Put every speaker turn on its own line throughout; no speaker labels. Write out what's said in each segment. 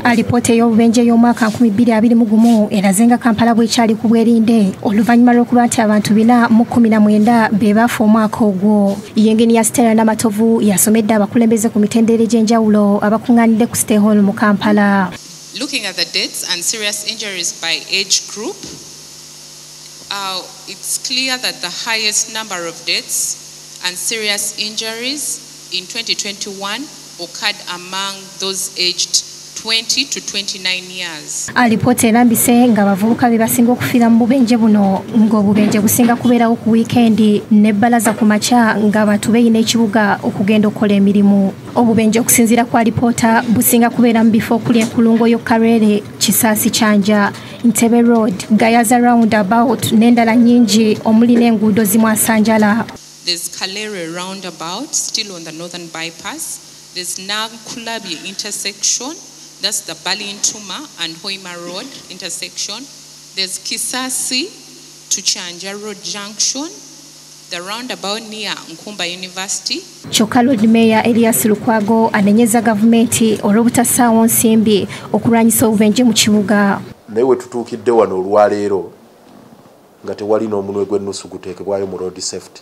alipoota ey'obubenje y'omwaka 2021 eraze nga kampala bwekyali ku bwerinde oluvannyuma lw'okuba nti abantu bina mu 19 be baafa omwaka ogwo yengeni ya stella namatovu yasomedde abakulembeze ku mitendere gy'enjawulo abakuŋŋaanidde ku stay hall mu kampala Looking at the
deaths and serious injuries by age group, uh, it's clear that the highest number of deaths and serious injuries in 2021 occurred among those aged 20 to 29 years. Alipoota erambise
nga abavubuka be basinga okufiira mu bubenje buno ng'obubenje businga kubeerawo ku wiikendi ne bbalaza ku makya ng'abantu beeyina ekibuga okugenda okukola emirimu. Obubenje okusinziira ku alipoota businga kubeera mu bifo okuli enkulungo yo Karere, Kisaasi Kyanja, Ntebe Road, Gayaza Roundabout n'endala nnyingi omuli n'enguudo zimwasanjala. There's Kalere
roundabout, still on the northern bypass. There's Nakulabye intersection, that's the Balintuma and Hoima Road intersection. There's Kisasi to Chanja Road Junction, the roundabout near Nkumba University. Kyokka Lord
Mayor Elias Lukwago anenyeza gavumenti olw'obutasaawo nsimbi okulwanyisa obubenje mu kibuga. Naye we tutuukidde
wano olwaleero nga tewali n'omunwe gw'ennusu guteekebwayo mu road safety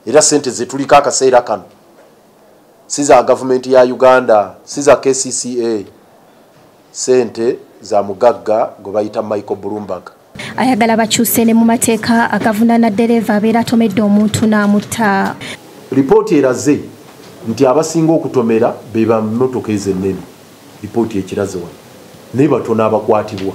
era sente zetuliko akaseera kano si za gavumenti ya uganda si za kcca sente za mugagga gwe bayita michael bloomberg ayagala bakyuse
ne mu mateeka agavunana ddereeva abeera atomedde omuntu n'amutta lipooti
eraze nti abasinga okutomera be bamotoka ezo ennene lipooti ekiraze wano naye batono abakwatibwa